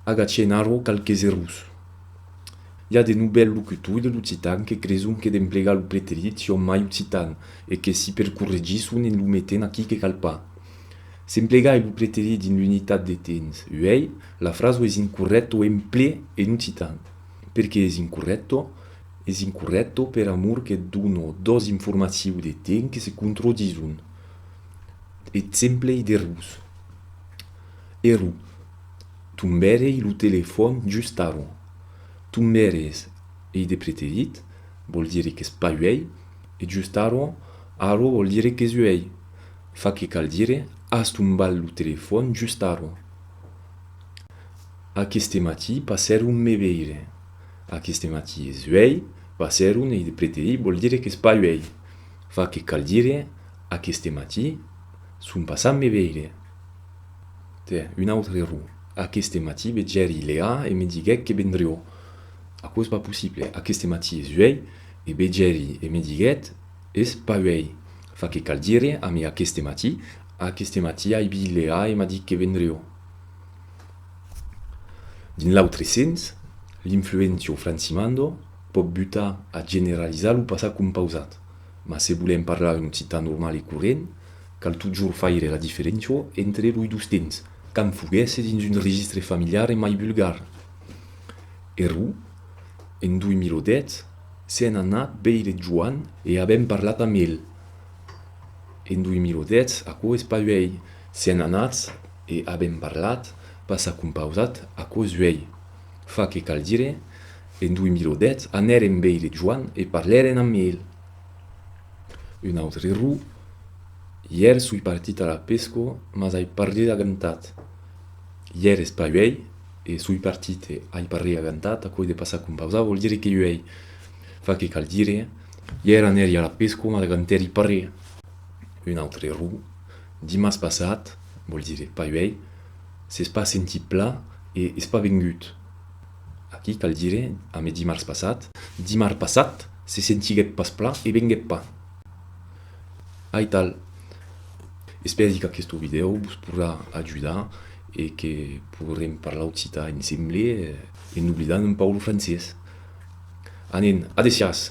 Agacè narro qualques errors. I a de novèls locutors de l'occitan que creson que d'emplegar lo preterit son mai occitan e que si per corregir son en lo metent aquí que cal pas. S'emplegai lo preterit dins l'unitat de temps uèi, la fraso es incorrècto emplé en occitan. Perqué es incorrècto? Es incorrècto per amor que dono dos informacius de temps que se controdison. Exemplei d'errors. Ero. Tombèrei lo telefòn just aron. Tombèrei es ei de preterit, vòl dire qu'es pas uèi, e just aron, aron vòl dire qu'es uèi. Fa que cal dire as tombat lo telefòn just aron. Aqueste matí passèron me veire. Aqueste matí es uèi, passèron ei de preterit, vòl dire qu'es pas uèi. Fa que cal dire aqueste matí son passat me veire. Tiens, un autre error. Aqueste matí vegèri Leà e me diguec que vendrió. Aquò es pas possible. Aqueste matí es uèi e vegèri e me diguèt es pas uèi. Fa que cal dire amé aqueste matí, Aqueste matí ai vist Leà e m'a dit que vendrió. Dins l'autre sens, l'influentio francimando pòt butar a generalizar lo passat compausat. Mas se volèm parlar un occitan normal e corrent, Cal totjorn faire la diferéncia entre loi dos temps, quand foguèsse dins un registre familiar e mai vulgar. Errou, en 2010, sèn anat veire Joan e avèm parlat amb el. En 2010, aquò es pas uèi, sèn anats e avèm parlat, pas s'as compausat, aquò es uèi. Fa que cal dire, en 2010, anèrem veire Joan e parlèrem amb el. Un autre error, ièr soi partit a la pesca mas ai parrit agantat. Ièr es pas uèi e soi partit e ai parrit agantat, aquò de passar com pausar vòl dire que uèi fa que cal dire, ièr anèri a la pesca mas agantèri parrit. Un autre error, dimars passat vòl dire pas uèi, s'es pas sentit plan e es pas vengut. Aquí cal dire, amé dimars passat, dimar passat, se sentiguèt pas plan e venguèt pas. Aital. Espèri qu'aquesto vidèo vos podrà ajudar e que podrem parlar occitan ensemble en oblidant un pauc lo francés. Anen, adesiás!